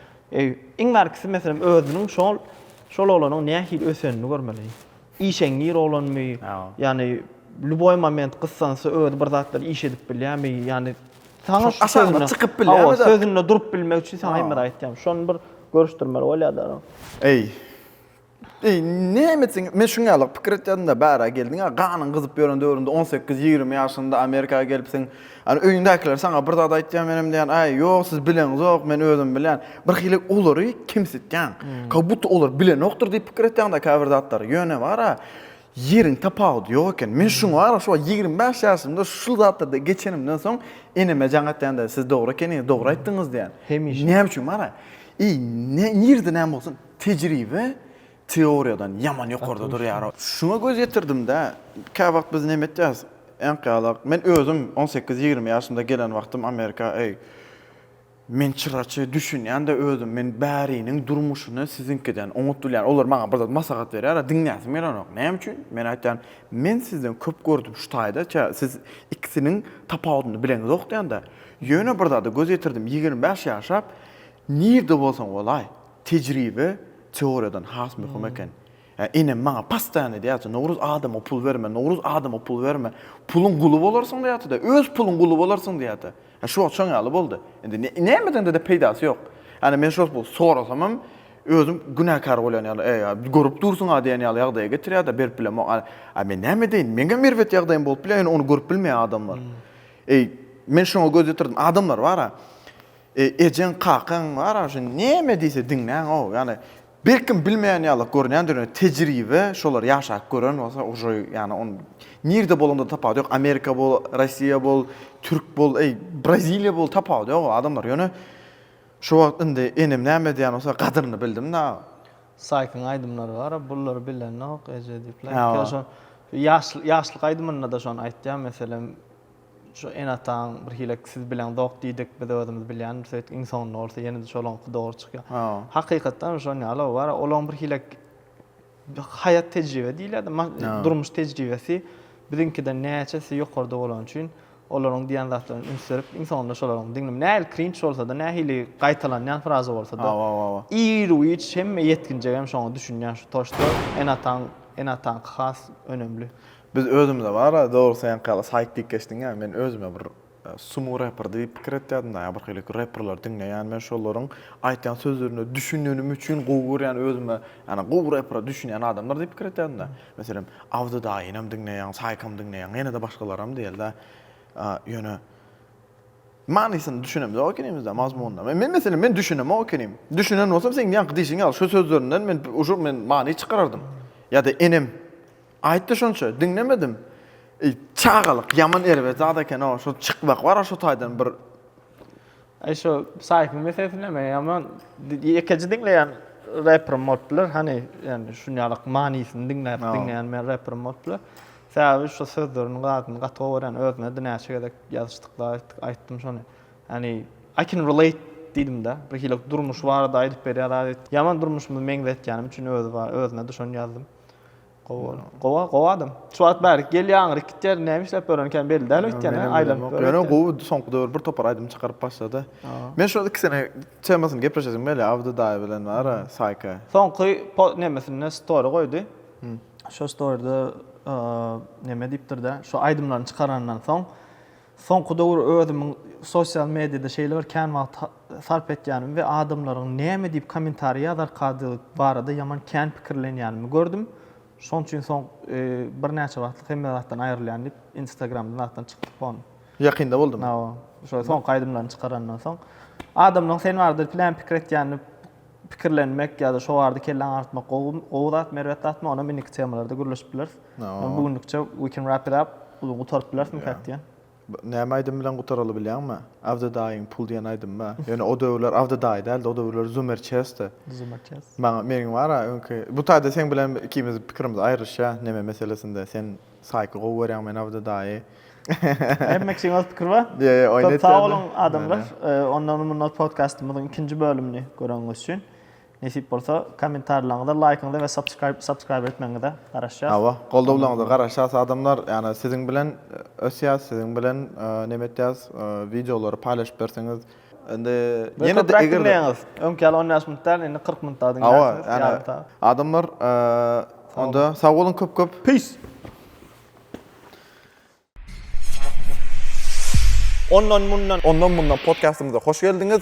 Iň bärkisi meselem özüniň şol şol oglanyň nähili ösenini görmeli. Işeňňir oglanmy, ýagny lýuboý moment gyssansa özi bir zatlar iş edip bilýärmi, ýagny saňa şu aşagyna çykyp bilýärmi, hawa sözünde durup bilmek üçin saňa hemme zat aýtýarmy, şony bir görüşdirmeli bolýarlar. Eý, Eý, näme üçin? Men şuň ýaly pikir etýärdim-de, bärä geldiň-ä, ganyň gyzyp ýören döwrüňde on sekiz, ýigrimi ýaşyňda Amerika gelipsiň. Ýöne öýüňdäkiler saňa bir zat aýtýar, menem diýýän, Äý, ýok, siz bileňizok, men özüm bilýän. Birhili olary kemsitýäň. Kabutda olar bilenokdyr diýip pikir etýäň-dä käbir zatlary. Ýöne bar-a, ýeriň tapawudy ýok eken. Men şuňa bar-a, şu wagt ýigrimi bäş ýaşymda şu zatlardan geçenimden soň eneme jaň atýan-da, Siz dogry ekeniňiz, dogry aýtdyňyz diýýän. Hemişe. Näme üçin bar-a? Eý, nirede näme bolsun? Tejribe teoriýadan ýaman ýokarda durýar. Şuňa göz ýetirdim-dä, käwagt biz näme etýäris, äňk ýalak, men özüm on sekiz, ýigrimi ýaşymda gelen wagtym Amerika, eý, men çyraçy, düşünýän-de özüm, men bäriniň durmuşyny siziňkiden oňat bilýän. Olar maňa bir zat maslahat berýär-ä, diňläsim gelenok. Näme üçin? Men aýtýan, men sizden köp gördüm şu taýda, kä, siz ikisiniň tapawudyny bileňizok diýen-dä. Ýöne bir zada göz ýetirdim, ýigrimi bäş ýaşap, nirde bolsaň bolaý, Tejribe teoriýadan has möhüm eken. Enem maňa postaýan edýärdi, Nowruz adama pul berme, Nowruz adama pul berme. Puluň guly bolarsyň diýýärdi-de, öz puluň guly bolarsyň diýýärdi. Şu wagt şoň ýaly boldy. Indi nämedeňde-de peýdasy ýok. Ýani men şol pul sorasamam, özüm günäkär bolýan ýaly, eý, görüp dursuň-a diýen ýaly ýagdaýa getirýär-de, berip bilemok. A men näme edeýin? Meňem erbet ýagdaýym bolup bilýär, ýöne ony görüp bilmeýär adamlar. Eý, men şoňa göz ýetirdim. Adamlar bar-a, Ejeň, kakaň barag şu näme diýse diňläň-ow. Ýagny birkim bilmeýän ýaly görünýändir ýöne tejribe şolar ýaşap gören bolsa uje ýagny on nirde bolanda tapawudy ýok Amerika bol Rossiýa bol Türk bol eý Braziliýa bol tapawudy ýok o adamlar ýöne şu wagt indi enem näme edýän bolsa gadyryny bildim dagy. Saýkyň aýdymlary bara bullary bilenok eje diýipler. Ýa şo ýaşlyk aýdymynda-da şony aýtýar meselem Şu enataň bir hile siz bileňzok diýdik, biz özümiz bilýänmiş söýtdik, iň soňunda bolsa ýene-de şolaňky dogry çykýar. Hakykatdan hem şon ýaly ol bar, olaň bir hile haýat tejribe diýilýärdi, durmuş tejribesi biziňkiden näçe esse ýokarda bolany üçin olaryň diýen zatlaryny üns berip iň soňunda şolaryň diňlip nähili krinç bolsada, nähili gaýtalanýan fraza bolsada, ir wiç hemme ýetginjek hem şoňa düşünýär şu toşda enataň enataňky has önemli. Biz özümize bara dogry seňki ýaly saýt diýip geçdiň ýa men özüme bir sumu reper diýip pikir etýärdim daýa bir hili reperleri diňleýän men şolaryň aýtýan sözlerine düşünenim üçin gowy görýän özüme ýani gowy repere düşünýän adamlar diýip pikir etýärdim daýa meselem Abdy daýynam diňleýän saýkam diňleýän ýene-de başgalaram diýelde ýöne manysyna düşünemizok ekenimizde mazmunyna men meselem men düşünemok ekenim düşünen bolsam seň ýaňky diýşiň ýaly şu sözlerinden men uşul men many çykarardym ýa-da enem Aýtdy şonça, diňlemedim. Eý, çagalyk ýaman erbet zat eken-ow, şo çykmak bar-a şo taýdan bir. Eý, şo Saýfyň meselesi näme, ýaman ýekeje diňleýän reperim bolup biler, hany, ýagny şunýalyk manysyny diňläp diňleýän men reperim bolup biler. Sebäbi şo sözlerini zadyny gaty gowy görýän, özüne-de näçe gezek ýazyşdykda aýtdyk, aýtdym şony. Hany, I can relate diýdim-de, birhili durmuş barada aýdyp berýär zady. Ýaman durmuşymy meňzetýänim üçin özi bar, özüne-de şony ýazdym. Gowa, gowa, gowa adam. Şu wagt bärik gel ýaňyryk gitýär, näme işläp ýören ikän belli däl öýtýän, hä, aýlanyp ýör. Ýöne gowy soňky döwür bir topar aýdym çykaryp başlady. Men şu iki sene temasyny gepleşesim gelýär Abdy daýy bilen bar-a, Saýka. Soňky nemesinde story goýdy. Şo storyda neme diýipdir-dä, şu aýdymlaryny çykaranyndan soň Soňky döwür özümiň sosial mediýada şeýle bir kän wagt sarp etýänimi we adamlaryň näme diýip kommentariý ýazarkadygy barada ýaman kän pikirlenýänimi gördüm. Şonuň üçin soň birnäçe wagtlyk hemme zatdan aýrylýan diýip instagramdan zatdan çykdyk hon. Ýakynda boldumy? Hawa. Şo soňky aýdymlaryny çykarandan soň. Adamlaryň sen barada plan pikir etýänini Pikirlenmek ýa-da şo barada kelle aňartmak gowy, gowy zat, merbet zatmy, onam indiki temalarda gürleşip bileris. Bu günlükçe we can wrap it up, uzyn gutaryp bilerismi kak diýen. Näme aýdym bilen gutaraly bilýäňmi? Avda daýyň pul diýen aýdymmy? Ýöne o döwürler Avda daýy däldi, o döwürler Zumer Chessdi. Zumer Chess. Maňa, meniň bar-a öňki, bu taýda seň bilen ikimiziň pikirimiz aýrylyşýar neme meselesinde, sen Saýky gowy görýäň men Abdy daýy. Hem mekşiň öz pikir bar. Ýe ýe oýun etýän. Köp sagboluň adamlar. Ondan mundan podkastymyzyň ikinji bölümini görenňiz üçin. Nesip bolsa kommentarlaryňyza, laýkyňyza we subscribe subscribe etmegiňize garaşýas. Hawa, goldawlaryňyza garaşýas adamlar. Ýani siziň bilen ösýäs, siziň bilen neme etýäs, wideolary paýlaşyp berseňiz. Indi ýene de eger öňki ýaly 15 minut däl, indi 40 minut dadyň ýa-da. Adamlar onda sag boluň köp köp. Peace. Ondan mundan. Ondan mundan podkastymyza hoş geldiňiz.